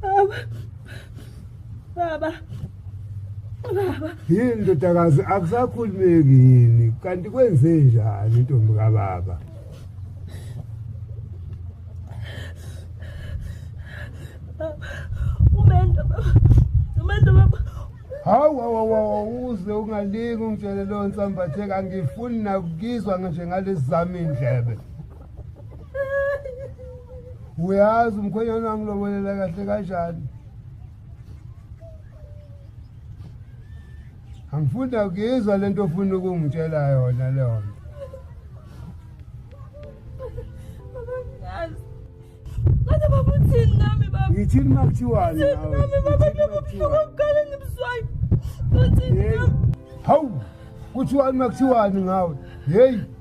Baba. Baba. Baba. Yini ndodakazi akusakhulumeki yini kanti kwenze njani intombi kababa? Umendo baba. Umendo baba. Hawu hawu hawu uze ungalingi ungitshele lo nsambathe kangifuni nakukizwa ngisho ngalezami indlebe. uyazi umkhwenyana wangilobolela kahle kanjani angifunda kuyizwa le nto ofuna ukungitshela yona leyo nto ngithini uma kuthiwani hawu kuthiwani uma kuthiwani ngawe heyi